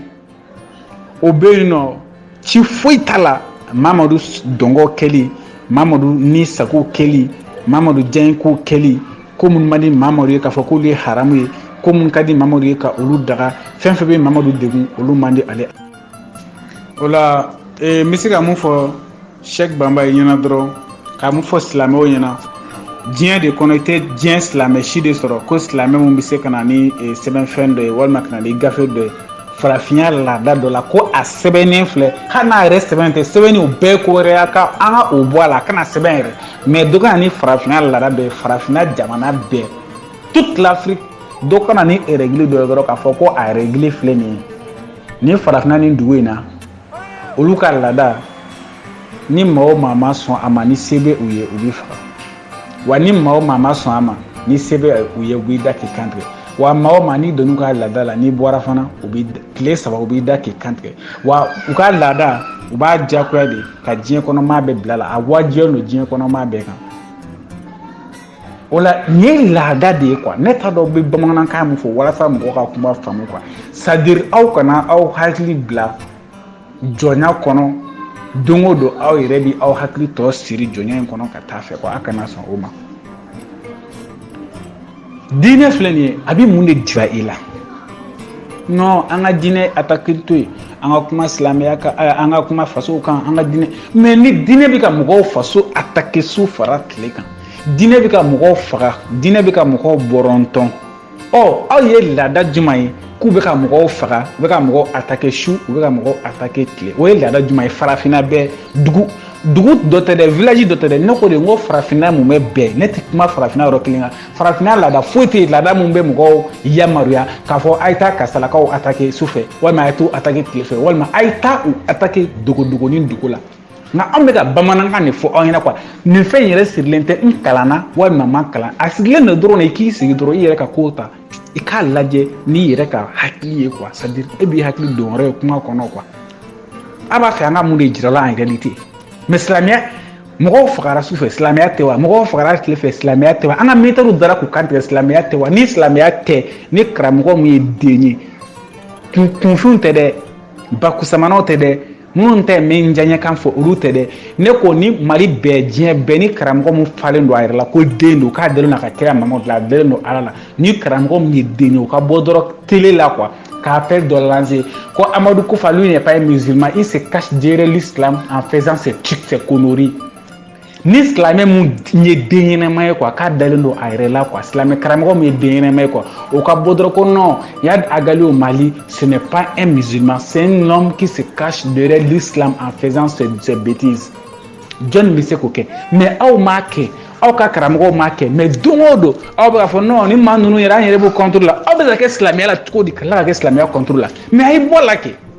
o bɛ yen nɔ ci foyi t'a la mamadu dungɔ kɛli mamadu ni sago kɛli mamadu diyanyekow kɛli ko minnu man di mamadu ye k'a fɔ k'olu ye haramu ye ko minnu ka di mamadu ye ka olu daga fɛn fɛn bɛ mamadu degun olu man di ale ye voilà ee n bɛ se ka mun fɔ sɛki banba i ɲɛna dɔrɔn ka mun fɔ silamɛw ɲɛna diɲɛ de kɔnɔ i tɛ diɲɛ silamɛ si de sɔrɔ ko silamɛ min bɛ se ka na ni eh, sɛbɛnfɛn dɔ ye walima ka na ni gafe dɔ ye farafinya laada dɔ la ko a sɛbɛnnen filɛ hali n'a yɛrɛ sɛbɛn tɛ sɛbɛnni o bɛɛ ko wɛrɛ y'a ka an ka o bɔ a la a kana sɛbɛn yɛrɛ mais dɔ ka na ni farafinya laada dɔ ye farafinna jamana bɛɛ toute l'afrique dɔ ka na ni règle dɔ ye dɔrɔn k'a fɔ ko a règle filɛ nin ye nin farafinna nin dugu in na olu ka laada ni maa o maa ma sɔn a ma ni se bɛ u ye u b'i faga wa ni maa o maa ma sɔn a ma ni se bɛ u ye u b'i da k'i kantigɛ wa maa o maa n'i donn'u ka laada la n'i bɔra fana u b'i tile saba kɔ u b'i da k'i kantigɛ wa u ka laada u b'a diyagoya de ka diɲɛ kɔnɔ maa bɛɛ bila a la a wajibiyalen don diɲɛ kɔnɔ maa bɛɛ kan o la nin ye laada de ye kuwa ne t'a dɔn n bɛ bamanankan min fɔ walasa mɔgɔ ka kuma faamu kuwa sadiri aw kana aw hakili bila jɔnya kɔnɔ don o don aw yɛrɛ bɛ aw hakili tɔ siri jɔnya in kɔnɔ ka taa fɛ ko a kana sɔn o ma diinɛ filɛ nin ye a bɛ mun de jira i la non an ka diinɛ atakeli to yen an ka kuma silamɛya kan eh, an ka kuma fasow kan an ka diinɛ mais ni diinɛ bɛ ka mɔgɔw faso atake su fara tile kan diinɛ bɛ ka mɔgɔw faga diinɛ bɛ ka mɔgɔw bɔrɔntɔn ɔ aw ye laada jumɛn ye k'u bɛ ka mɔgɔw faga u bɛ ka mɔgɔw atake su u bɛ ka mɔgɔw atake tile o ye laada jumɛn ye farafinna bɛɛ dugu dugu dɔ tɛ dɛ village dɔ tɛ dɛ ne ko de n ko farafinna mumɛ bɛɛ ne tɛ kuma farafinna yɔrɔ kelen kan farafinna laada foyi tɛ yen laada min bɛ mɔgɔw yamaruya k'a fɔ a ye taa kasalakaw atake su fɛ walima a ye t'u atake tile fɛ walima a ye taa u atake dogodogonin dogo la nka an bɛ ka bamanankan de fɔ aw ɲɛna kuwa nin fɛn in yɛrɛ sirilen tɛ n kalanna walima n ma kalan a sirilen don dɔrɔn de i k'i sigi dɔrɔn i yɛrɛ ka kow ta i k'a lajɛ n'i yɛrɛ ka hakili ye kuwa sadiri e b'i hakili don yɔrɔ ye kuma kɔnɔ kuwa a b'a fɛ an ka mun de jirala an yɛrɛ ni ten mɛ silamɛya mɔgɔw fagara su fɛ silamɛya tɛ wa mɔgɔw fagara tile fɛ silamɛya tɛ wa an ka militɛriw dara k'u kantigɛ silamɛya tɛ wa ni silamɛya tɛ ni karamɔgɔ min ye den ye kunfinw tɛ dɛ bakusamanaw tɛ dɛ minnu tɛ min diyaɲɛkan fɔ olu tɛ dɛ ne ko ni mali bɛɛ diɲɛ bɛɛ ni karamɔgɔ min falen don a yɛrɛ la ko den don k'a dalen don a ka kira mamadu la a dalen don ala la ni karamɔgɔ min ye den ye o ka bɔ dɔrɔn tele la kuwa ka appel dɔ lanse ko amadu kufa lui n'est pas un musulman il se cache derrière l'islam en faisant ses trucs ses conneries ni silamɛ min ye den ɲɛnama ye kuwa k'a dalen don a yɛrɛ la kuwa silamɛ karamɔgɔ min ye den ɲɛnama ye kuwa o ka bɔ dɔrɔn ko non iyad ag ghali au mali ce n'est pas un musulman c'est un homme qui se cache derrière l'islam en faisant ses, ses bêtises jɔnni bɛ se k'o kɛ mais aw m'a kɛ aw ka karamɔgɔw m'a kɛ mais don o don aw bɛ k'a fɔ non ni maa ninnu yɛrɛ an yɛrɛ b'u contre la aw bɛ se ka kɛ silamɛya la cogo di ka tila ka kɛ silamɛya contre la mais a ye bɔ la kɛ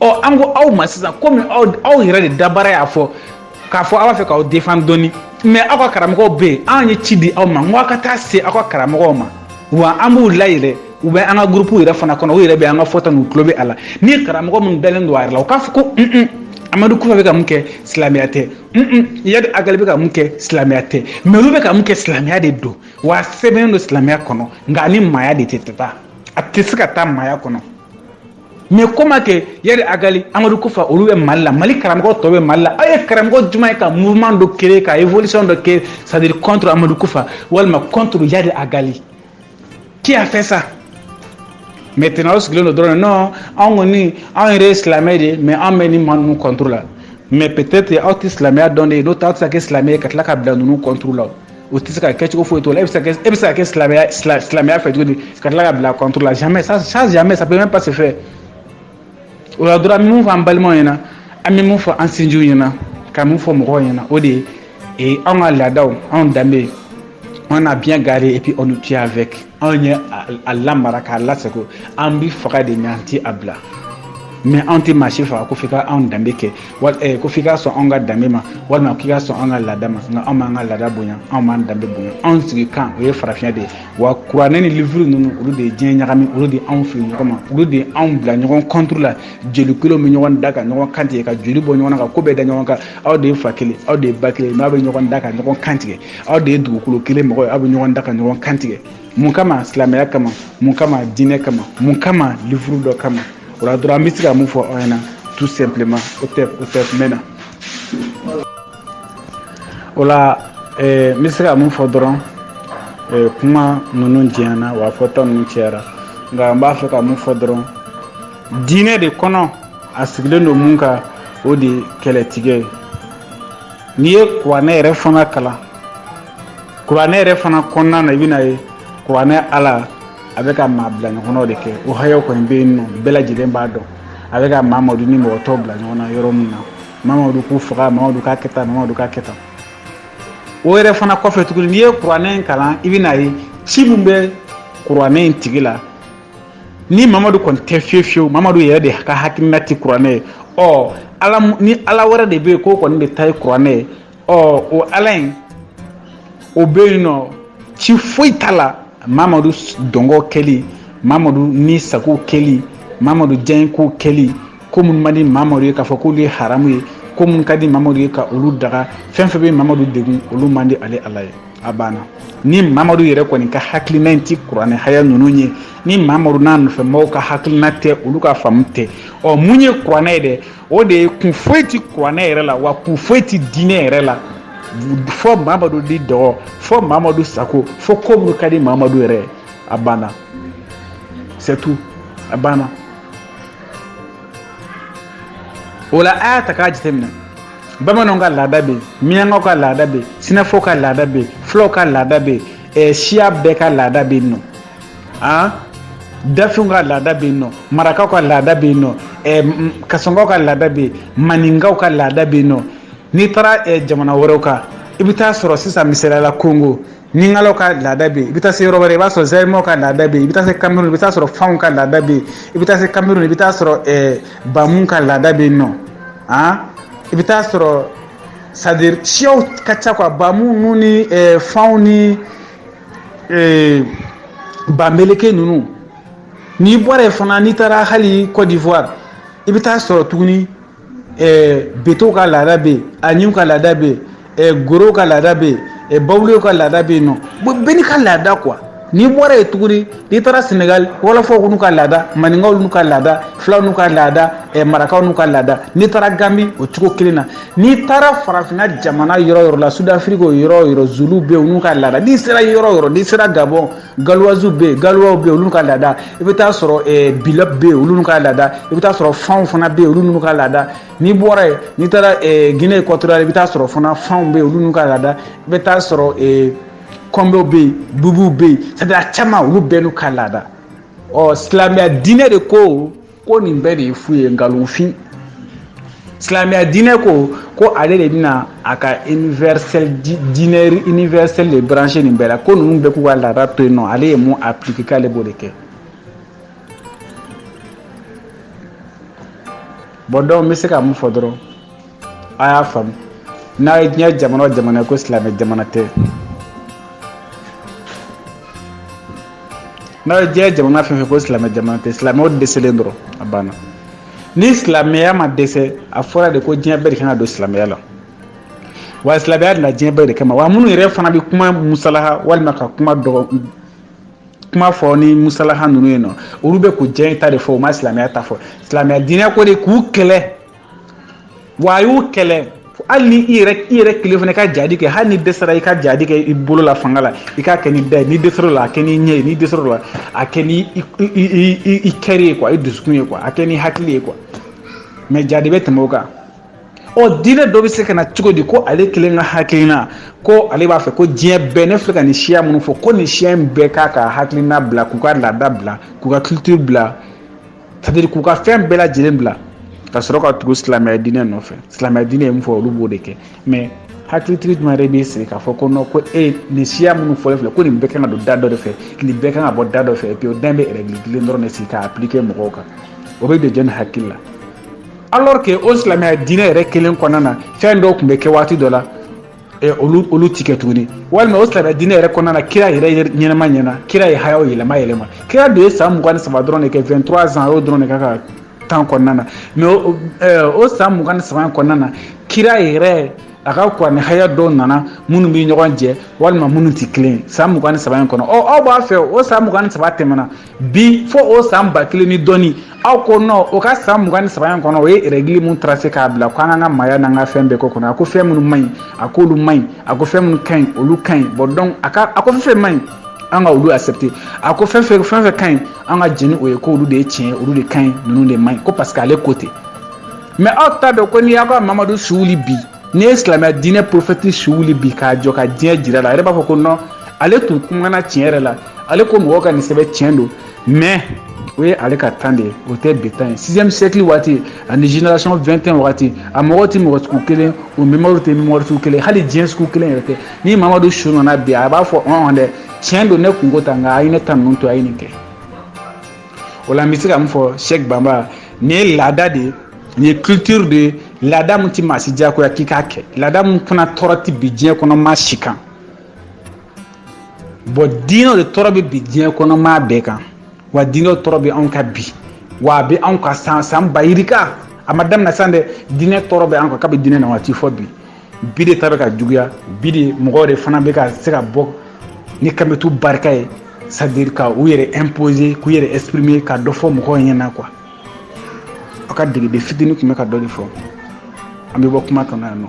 ɔ an ko aw ma sisan komi aw aw yɛrɛ de dabara y'a fɔ k'a fɔ aw b'a fɛ k'aw defan dɔɔni mɛ aw ka karamɔgɔw bɛ yen an ye ci di aw ma n ko aw ka taa se aw ka karamɔgɔw ma wa an b'u layɛlɛ u bɛ an ka gurupu yɛrɛ fana kɔnɔ u yɛrɛ bɛ an ka fɔta n'u tulo bɛ a la ni karamɔgɔ minnu dalen don a yɛrɛ la u k'a fɔ ko un un amadu kufa bɛ ka mun kɛ silamɛya tɛ un un yadi agali bɛ ka mun kɛ silamɛya tɛ mɛ olu bɛ ka mun kɛ silamɛya de don wa a sɛbɛnnen don silamɛya kɔnɔ nka a ni maaya de tɛ taa a tɛ se ka taa maaya kɔnɔ mais comment que yadi agali amadu kufa olu bɛ mali la mali karamɔgɔ tɔw bɛ mali la aw ye karamɔgɔ juma ye ka mouvement dɔ créer ka révolution dɔ kɛ c'est à dire contre amadu kufa walima contre yadi agali qui a fait ça maintenant aw sigilen don dɔrɔn non anw kɔni anw yɛrɛ ye silamɛ de ye mais anw bɛ ni maa ninnu contre la mais peut-être aw tɛ silamɛya dɔn de ye n'o tɛ aw tɛ se ka kɛ silamɛ ye ka tila ka bila ninnu contre la o tɛ se ka kɛ cogo foyi t'o la e bɛ se ka e bɛ se ka kɛ silamɛya silamɛya fɛ cogo di ka tila ka bila contre la jamais ça ça jamais ça peut même pas se faire o la dɔrɔn an bɛ mun fɔ an balimaw ɲɛna an bɛ mun fɔ an sinjiw ɲɛna ka mun fɔ mɔgɔw ɲɛna o de ye ee anw ka laadaw anw danbe on a bien gardé et puis on tient avec anw ye a lamara k'a lasago an bɛ faga de mais an tɛ a bila mais anw tɛ maa si faga ko f'i ka anw danbe kɛ Eh, ko f'i ka sɔn anw ka danbe ma walima k'i ka sɔn an ka laada ma nka anw b'an ka laada bonya anw b'an danbe bonya anw sigikan o ye farafinya de ye wa kuranɛ ni livuru ninnu olu de ye diɲɛ ɲagami olu de anw fili ɲɔgɔn ma olu de anw bila ɲɔgɔn contre la jeli kelen bɛ ɲɔgɔn da ka ɲɔgɔn kantigɛ ka joli bɔ ɲɔgɔn na ka ko bɛɛ da ɲɔgɔn kan aw de ye fa kelen aw de ye ba kelen n'aw bɛ ɲɔgɔn da ka ɲɔgɔn kantigɛ aw de ye dugukolo kelen mɔgɔ ye aw bɛ ɲɔgɔn da ka ɲɔgɔn kantigɛ Mun kama silamɛya kama mun kama diinɛ kama mun kama livuru dɔ kama o la dɔrɔn n bɛ se ka mun fɔ aw ɲɛna tout simplement o tɛ o tɛmɛna o la n bɛ se ka mun fɔ dɔrɔn kuma ninnu janyana wa fɔta ninnu cayara nka n b'a fɛ ka mun fɔ dɔrɔn diinɛ de kɔnɔ a sigilen don min kan o de ye kɛlɛtigɛ ye n'i ye kuranɛ yɛrɛ fana kalan kuranɛ yɛrɛ fana kɔnɔna na i bɛna ye kuranɛ la a bɛ ka maa bila ɲɔgɔn na de kɛ o hayaw kɔni bɛ yen n'aw bɛɛ lajɛlen b'a dɔn a bɛ ka mamadu ni mɔgɔ tɔw bila ɲɔgɔn na yɔrɔ min na mamadu k'u faga mamadu k'a kɛ tan mamadu k'a kɛ tan o yɛrɛ fana kɔfɛ tuguni n'i ye kuranɛ in kalan i bɛna ye cɛ min bɛ kuranɛ in tigiya la ni mamadu kɔni tɛ fiyewu fiyewu mamadu yɛrɛ de ka hakilina tɛ kuranɛ ye ɔ ala ni ala wɛrɛ de bɛ yen k'o kɔni de ta ye kuranɛ ye ɔ o ala in o bɛ yen nɔ ci foyi t'a la mamadu dungɔ kɛli mamadu ni sago kɛli mamadu diyanyeko kɛli ko minnu man di mamadu ye k'a fɔ k'olu ye haramu ye ko minnu ka di mamadu ye ka olu daga fɛn fɛn bɛ mamadu degun olu man di ale ala ye a banna ni mamadu yɛrɛ kɔni ka hakilina in tɛ kuranɛ haya ninnu ye ni mamadu n'a nɔfɛmɔgɔw ka hakilina tɛ olu ka faamu tɛ ɔ mun ye kuranɛ ye dɛ o de ye kun foyi tɛ kuranɛ yɛrɛ la wa kun foyi tɛ diinɛ yɛrɛ la fɔ mamadu ni dungɔ fɔ mamadu sago fɔ ko minnu ka di mamadu yɛrɛ a banna c'est tout a banna o la a y'a ta k'a jateminɛ bamananw ka laada bɛ yen minyankaw ka laada bɛ yen sinafɔw ka laada bɛ yen fulaw ka laada bɛ yen eh, siya bɛɛ ka laada bɛ yen nɔ an dafinw ka laada bɛ yen nɔ marakaw ka laada bɛ yen nɔ kasɔnkaw ka laada bɛ yen maninkaw ka laada bɛ yen nɔ n'i taara jamana wɛrɛw kan i bɛ taa sɔrɔ sisan misaliyala kongo lingalaw ka laada bɛ yen i bɛ taa se yɔrɔ wɛrɛ i b'a sɔrɔ zɛrimaw ka laada bɛ yen i bɛ taa se kamerun i bɛ taa sɔrɔ fanw ka laada bɛ yen i bɛ taa se kamerun i bɛ taa sɔrɔ bamu ka laada bɛ yen nɔ an i bɛ taa sɔrɔ c'est-à-dire siyaw ka ca quoi bamu ni fanw ni Ee bamileke ninnu n'i bɔra yen fana n'i taara hali kɔdiwari i bɛ taa sɔrɔ tuguni betew ka laada bɛ yen aɲiw ka laada bɛ yen gorow ka laada bɛ yen bawulew ka laada bɛ yen nɔ bɛɛ n'i ka laada quoi n'i bɔra yen tuguni n'i taara sɛnɛgali wɔlɔfɔw n'u ka laada maninkaw n'u ka laada fulaw n'u ka laada eh, marakaw n'u ka laada n'i taara gambi o cogo kelen na n'i taara farafinna jamana yɔrɔ yɔrɔ la sudafiriki o yɔrɔ yɔrɔ zuluw bɛ yen n'u ka laada n'i sera yɔrɔ yɔrɔ n'i sera gabɔn galuwaziw bɛ yen galuwaw bɛ yen olu n'u ka laada i bɛ taa sɔrɔ eh, bila bɛ yen olu n'u ka laada i bɛ taa sɔrɔ fanw fana bɛ yen olu n'u ka laada n'i bɔra yen n'i taara eh, guinée équatoriale i bɛ taa sɔrɔ fana fanw bɛ yen olu n'u ka laada i bɛ taa sɔrɔ eh, kɔnbew bɛ yen bubuw bɛ yen c'est-à-dire a caman olu bɛɛ n'u ka laada ɔ silamɛya diinɛ de ko ko nin bɛɛ de ye fu ye nkalonfin silamɛya diinɛ ko ko ale de bɛna a ka universel diinɛ universel de brancher nin bɛɛ la ko ninnu bɛɛ k'u ka laada to yen nɔ ale ye min appliquer k'ale b'o de kɛ bon dɔw bɛ se ka mun fɔ dɔrɔn a y'a faamu n'a ye diɲɛ jamana jamana ye ko silamɛ jamana tɛ n'a ye diɲɛ jamana fɛn fɛn ko silamɛ jamana tɛ silamɛw dɛsɛlen dɔrɔn a banna ni silamɛya ma dɛsɛ a fɔra de ko diɲɛ bɛɛ de kan ka don silamɛya la wa silamɛya nana diɲɛ bɛɛ de kama wa minnu yɛrɛ fana bɛ kuma musalaha walima ka kuma dɔgɔ kuma fɔ ni musalaha ninnu ye nɔ olu bɛ k'u diyanye ta de fɔ u ma silamɛya ta fɔ silamɛya diinɛ ko de k'u kɛlɛ wa a y'u kɛlɛ hali ni i yɛrɛ i yɛrɛ kelen fana ka jadi kɛ hali n'i dɛsɛra i ka jadi kɛ i bolo la fanga la i k'a kɛ n'i da ye n'i dɛsɛr'o la a kɛ n'i ɲɛ ye n'i dɛsɛr'o la a kɛ ni i kɛri ye kuwa i dusukun ye kuwa a kɛ n'i hakili ye kuwa mɛ jadi bɛ tɛmɛ o kan ɔ diinɛ dɔ bɛ se ka na cogo di ko ale kelen ka hakilina ko ale b'a fɛ ko diɲɛ bɛɛ ne filɛ ka nin siya minnu fɔ ko nin siya in bɛɛ k'a ka hakilina bila k'u ka laada bila k'u ka culture bila sadiri k'u ka fɛn bɛɛ lajɛlen bila ka sɔrɔ ka tugu silamɛya diinɛ nɔfɛ silamɛya diinɛ ye mun fɔ olu b'o de kɛ mɛ hakilitigi jumɛn yɛrɛ b'i sigi k'a fɔ ko nɔ ko e nin siya minnu fɔlen filɛ ko nin bɛɛ kan ka don da dɔ de fɛ nin bɛɛ kan ka bɔ da dɔ fɛ epi o dan bɛ rɛgili kelen dɔrɔn de sigi k'a aplike mɔgɔw kan o bɛ don jɔni hakili la alors que o silamɛya diinɛ yɛrɛ kelen kɔnɔna na fɛn dɔw tun bɛ kɛ waati dɔ la olu olu ti kɛ tuguni walima o silamɛya diinɛ yɛrɛ kɔnɔna na kira yɛrɛ ɲɛnama ɲɛna kira ye hayaw yɛlɛma yɛlɛma kira don ye san mugan ni saba dɔrɔn de kɛ 23 ans y'o dɔrɔn de k'a ka tan kɔnɔna na mɛ o san mugan ni saba kɔnɔna na kira yɛrɛ a ka kuranɛ haya dɔw nana minnu bɛ ɲɔgɔn jɛ walima minnu tɛ kelen san mugan ni saba in kɔnɔ ɔ aw b'a fɛ o san mugan ni saba tɛmɛna bi fo o san ba kelen ni dɔɔni aw ko nɔ o ka san mugan ni saba in kɔnɔ o ye rɛgili min tarase k'a bila ko an k'an ka maaya n'an ka fɛn bɛɛ k'o kɔnɔ a ko fɛn minnu man ɲi a k'olu man ɲi a ko fɛn minnu ka ɲi olu ka ɲi bɔn dɔnku a ka a ko fɛn fɛn man ɲi an ka olu accepter a ko fɛn fɛn fɛn fɛn ka ɲi an ka jɛn ni o ye ko olu de ye tiɲɛ olu de ka ɲi ninnu de man ɲi ko parce que ale ko ten mɛ aw t'a dɔn ko n'i y'aw ka mamadu su wuli bi n'i ye silamɛya diinɛ porofɛti su wuli bi k'a jɔ ka diɲɛ jir'a la a yɛrɛ b'a fɔ ko nɔn ale tun kumana tiɲɛ yɛrɛ la ale ko mɔgɔw ka nin sɛbɛn tiɲɛ don mɛ o ye ale ka tan de ye o tɛ bi tan ye sixième siècle waati ani génération 21 waati a mɔgɔw tɛ mɔgɔ sugu kelen o mémoire tɛ mémoire sugu kelen hali diɲɛ sugu kelen yɛrɛ tɛ ni mamadu su nana bi a b'a fɔ ɔn dɛ tiɲɛ don ne kun ko tan nka a ye ne ta ninnu to a ye nin kɛ o la n bɛ se ka min fɔ sɛk banba nin ye laada de ye nin ye culture de ye laada min tɛ maa si diyagoya k'i k'a kɛ laada min fana tɔɔrɔ tɛ bi diɲɛ kɔnɔ maa si kan bɔn diinɛw de tɔɔrɔ bɛ bi diɲɛ kɔnɔ maa bɛɛ kan wa diinɛw tɔɔrɔ bɛ anw kan bi wa a bɛ anw kan san san ba yirika a ma daminɛ sisan dɛ diinɛ tɔɔrɔ bɛ an kan kabi diinɛ na waati fo bi bi de ta bɛ ka juguya bi de mɔgɔw de fana bɛ ka se ka bɔ ni kametu barika ye sadiri ka u yɛrɛ imposer k'u yɛrɛ exprimer ka dɔ fɔ mɔgɔw ɲɛna kuwa aw ka degeden fitini tun bɛ ka dɔ de fɔ an bɛ bɔ kuma kɔnɔ yan nɔ